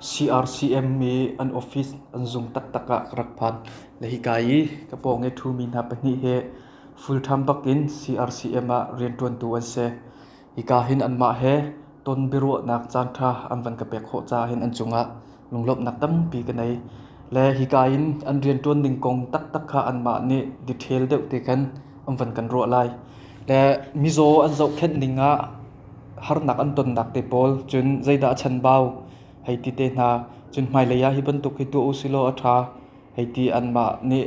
CRCM i an office an zung taktak ah ka rak phan. Le hika i ka pawng i ṭhumi hna pahnih hi full-time bakin CRCM ah rianṭuantu an si. Hika hin anmah he ton biaruahnak caanṭha an van ka pek khawh caah hin an cungah lunglawmhnak tampi ka nei. Le hika in an rianṭuan ning kong taktak kha anmah nih detail deuh te khan an van kan ruah lai. Le mizaw an zohkhenh ning ah harnak an tonnak te pawl cun zeidah a chanbau hei ti te hna. Cun hmailei ah hi bantuk hi tuah u silaw a ṭha hei ti anmah nih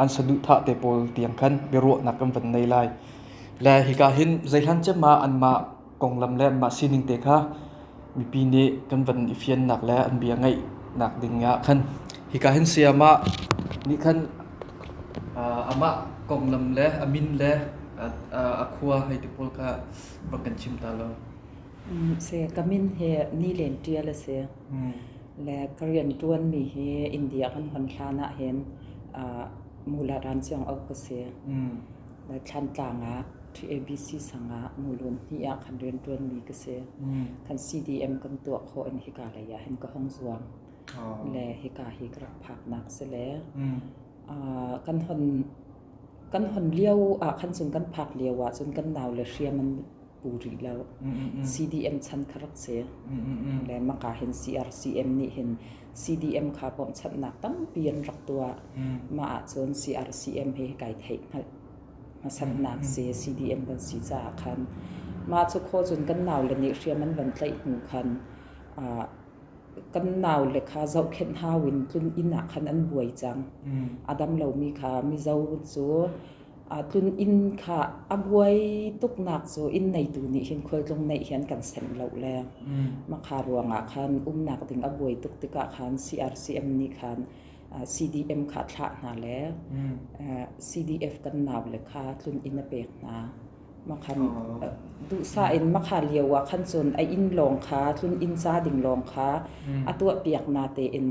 an saduhthah te pawl tiang khan biaruahnak kan van nei lai. Le hika hin zei hlan ciam ah anmah konglam le anmah sining te kha mipi nih kan van i fiannak le an bia ngaihnak ding ah khan hika hin sayamah nih khan amah konglam le a min le a khua hei ti pawl kha va kan chim ta lo. Se ka min he ni len tial se le ka rian tuan mi hi India kan hon hlan ah hin mula ran chiang ok ka se. Thlantlang ah TABC sang ah Mulun hnih ah kan rianṭuanmi ka si. Kan CDM kan tuah khawh in hika lei ah hin ka hong zuam. Le hika hi ka rak phaknak si le kan hon kan hon lio ah khan cun kan phak lio ah cun kan nau le hriam an pu rih lo. CDM chan kha rak si. Le maka hin CRCM nih hin CDM kha bawmhchanhnak tampi an rak tuah. Mah ahcun CRCM hi kai theih hngalh hmasatnak si CDM kan si caah khan mah cu kho cun kan nau le nih hriam an van tlaih hnu khan kan nau le kha zohkhenh hau in tlun inn ah khan an buai cang. A dam lomi kha Mizo cu aa tlun inn kha a buai tuknak cu inn neitu nih hin khualtlung neih hi an kan senh lo le mm. makha ruangah khan umnak ding a buai tuk tikah khan CRCM nih khan uh, CDM kha thlah hna le mm. uh, CDF kan nau le kha tlun inn a pek hna makhan oh. duhsa in makha lio ah khan cun a inn lawng kha tlun inn ca ding lawng kha mm. a tuah piak na tein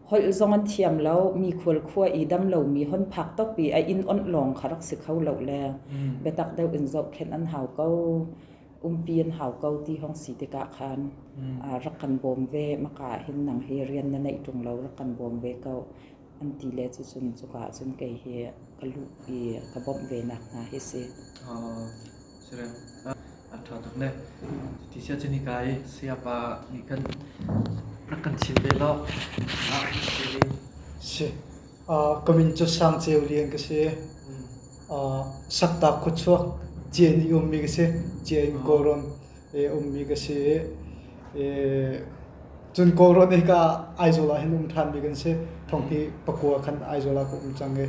holh zong an thiam lo mi khualkhua i dam lomi hon phak top i a inn onh lawng kha rak si kho lo le biatak deuh in zohkhenh an hau ko umpi an hau ko ti hong si tikah khan aa rak kan bawm ve maka ah hin nang hi rian na neih ṭung lo rak kan bawm ve ko an ti le cu cun cuka ah cun kei hi ka luh i ka bawmh ve nak hna hi si. a ṭha tuk le. Cuti sia cun hika i sayapa nih kan rak kan chim ve lo. Ah si. Si. Uh, ka min cu Sang Ceu Lian ka si. Uh, Sakta Khuachuak Cien i ummi ka si. Cien Kawlram e ummi ka si. E, cun Kawlram hika Aizola hin um ṭhanmi kan si. Thongki Pakua khan Aizola ka um cang i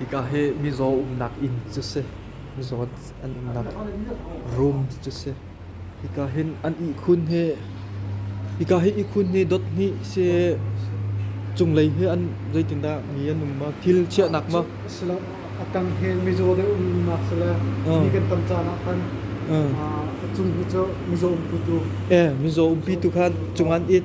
Hika hi mizaw umnak inn cu si. Mizaw an umnak room cu si. Hika hin an ihkhun hi hika hi ihkhun hi dot hnih si cunglei hi an zeitindah mi an um ma thil chiahnak ma si lo a tang hi mizaw deuh umnak si le ni kan tam caan ah khan a cung hi cu mizaw umputu eh mizaw umpi tu khan cung an it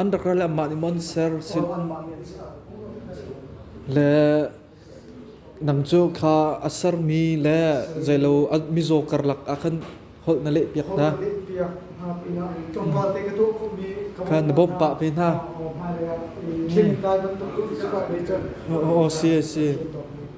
an rak ral amah nih mon ser le nang cu kha a sermi le zeilo mizaw karlak ah khan holh na leh piak hna khan na bawmh pah ve hna o si si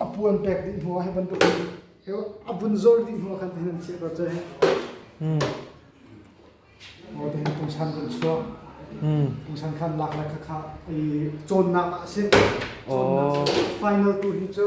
A puan pek dih hnu ah hi bantukin a vun zor dih hnu ah khan tihin an chiah ko cang. Aw tihin pungsan kan chuah. Pungsan khan lak le khakha i cawnnak ah a si. Cawnnak final tu hi cu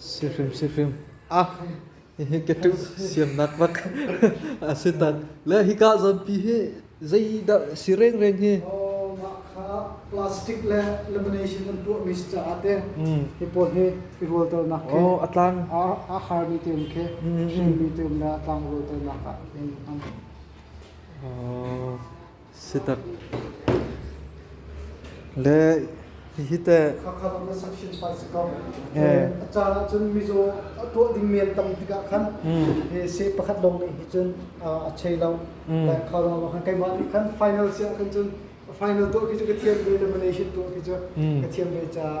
Sihrim sihrim ah hihi ka tu siam nak vat asitan le hi ka zampi hi zeidah si reng reng hi plastic le lamination an tuah mi caah te hi pawl hi i rual tel nak ke atlang a har mi te ke hring mi te le atlang rual tel nak ah in an Le hihi teh a caan ahcun mizaw tuah ding men tam tikah khan se pakhat lawng nih hi cun a chei lo dan kha lo khan keimah nih khan final si ah khan cun final tuah khi cu ka thiam ve le malaysian tuah khi cu ka thiam ve caah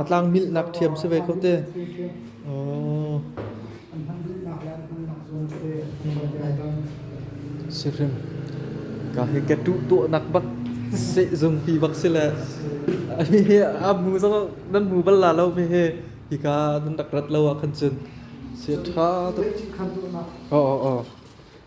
A tlang milhnak ṭhiam si ve ko te. Sirim. Ka hi ke tu tu nak bak se zung pi bak si le. Mi hi a mu so nan mu bal la lo mi hi hi ka nan rak rat lo a khan cun. Si ṭha to. Oh oh oh.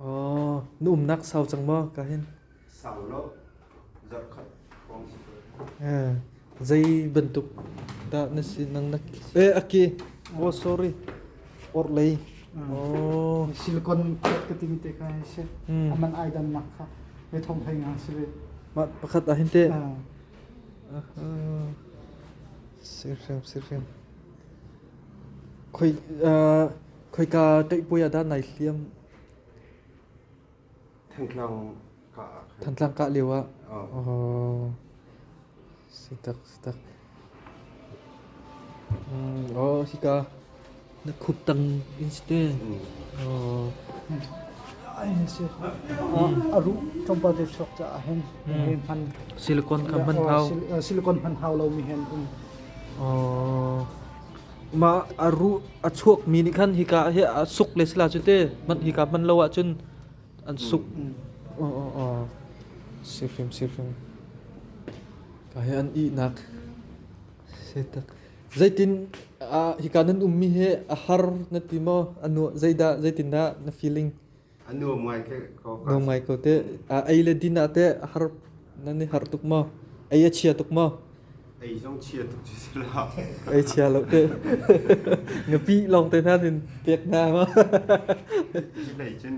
Aw, na umnak sau cang maw ka hin? Sau lo. Zarhkhat hrawng si ko. Eh, zei bantuk dah na si nang na eh aki oh sorry orlei oh silicon plate ka ting te ka si Hmm. aman ai dan nak kha me thong hai nga si le ma pakhat ah hin te Ah, sirhriam sirhriam khoi ah Khoika tlaihpuai ah dah nai hliam? Thantlang ka ah. Thantlang kah lio ah. Oh. Sitak, sitak. Mm, oh, hika na khup tang inste. Oh. aru chompa de sok cha hen hen han silicon kan man thau silicon man thau lo mi hen um oh mah a ru a chuakmi nih khan hika hi a suk le sila cu te hman hika hman lo ahcun an suk oh, oh, oh. si hrim si hrim ka he an ihnak setak zeitin a hika nan ummi he a har na ti maw anu zeidah zeitin dah na feeling Nuam ngai ko teh. Ah, ei le din ah teh har nan i har tuk maw? Ei a chia tuk maw? Ei zong chia tuk cu si la. Ei chia lo teh. Ngapi lawng te hna din pek hna ma. Ti lei cun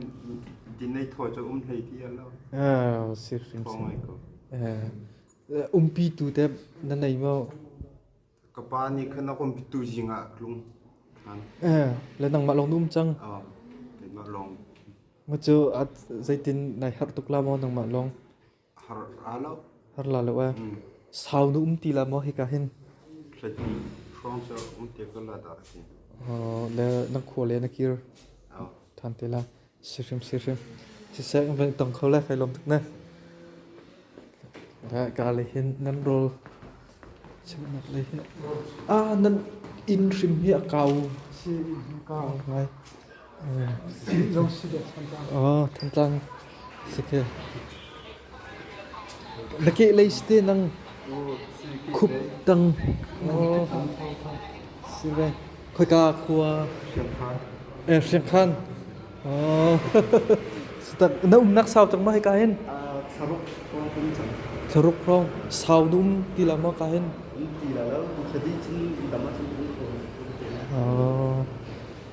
din ei thua cu um hlei ti a lo. Ah, sir hrim Phong ngai sim. ko. Eh, umpi tu teh nan ei maw? Ka pa nih khan a kumpitu zing ah tlung ṭhan. Eh, le nangmah lawng na um cang. Oh, keimah lawng Maw cu at zeitin nai harh tuk la maw nangmah lawng. har ra lo. Har la lo eh. Mm. Sau nu um ti la maw hika hin. Hlatni hrawng cu um te ka la dah a si. Oh, le na khua le na kir Oh, than te la. Siseh kan van i tong kho lai kai lawm tuk ne. Ka lei hin nan rol cheuhnak lei hin ah nan inn hrim hi a kau si inn hi kau ngai. Lo si deh Thantlang. Oh Thantlang si ke. Na kehlei si te nang khup tang. Khoika khua hriangkhan. Na umnak sau cang ma hika hin? Thlaruk hrawng sau na um ti la ma ka hin?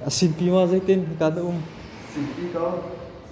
Asin pi ma zeiten hika na um?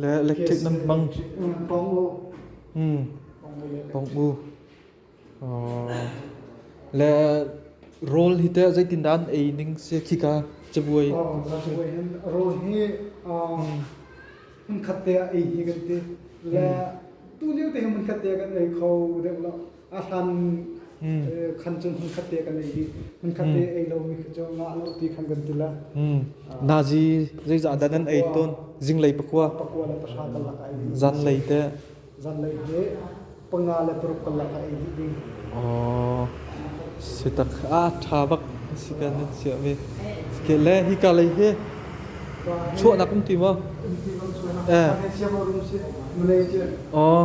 le electric nan hmang pong mu le role hi te zeitin dan ei ning se khika chabuai chabuai hin role hi mun khat te ei hi kan ti le tu lio te mun khat te kan ei kho deuh lo a hlan khan cun hmun khat te kan ei dih hmun khat te ei lo mi cu ngah lo ti khan kan tila nazi zeizah dah nan ei ton zinglei pakua pakua le pahra kan lak ai zan lei te zan lei he panga le paruk kan lak ai dih ding oh sitak a tha bak si kan nan sia mi ke le hi ka lei he chuah nak um ti mo eh oh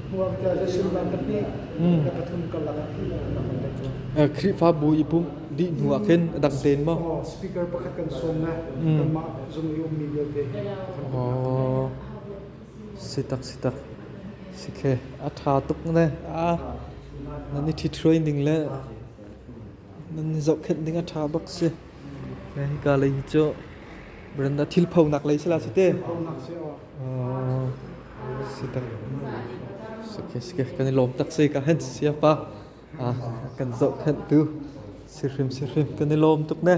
Khrihfabu i pumh dih hnuah khin a dang tein maw? Speaker pakhat kan sawm na kanmah zung i ummi vialte Oh, si tak si tak. Si khe, a ṭha tuk ne. A, nan i ṭhithroi ning le nan zohkhenh ding a ṭha bak si. Hika lei hi cu Brenda thil phonak lei sila si te. Si tak. Okay, okay. Kan i lawm tak si ka hen sia pa. Ah, kan zohkhenh tu. Si hrim si hrim kan i lawm tuk ne.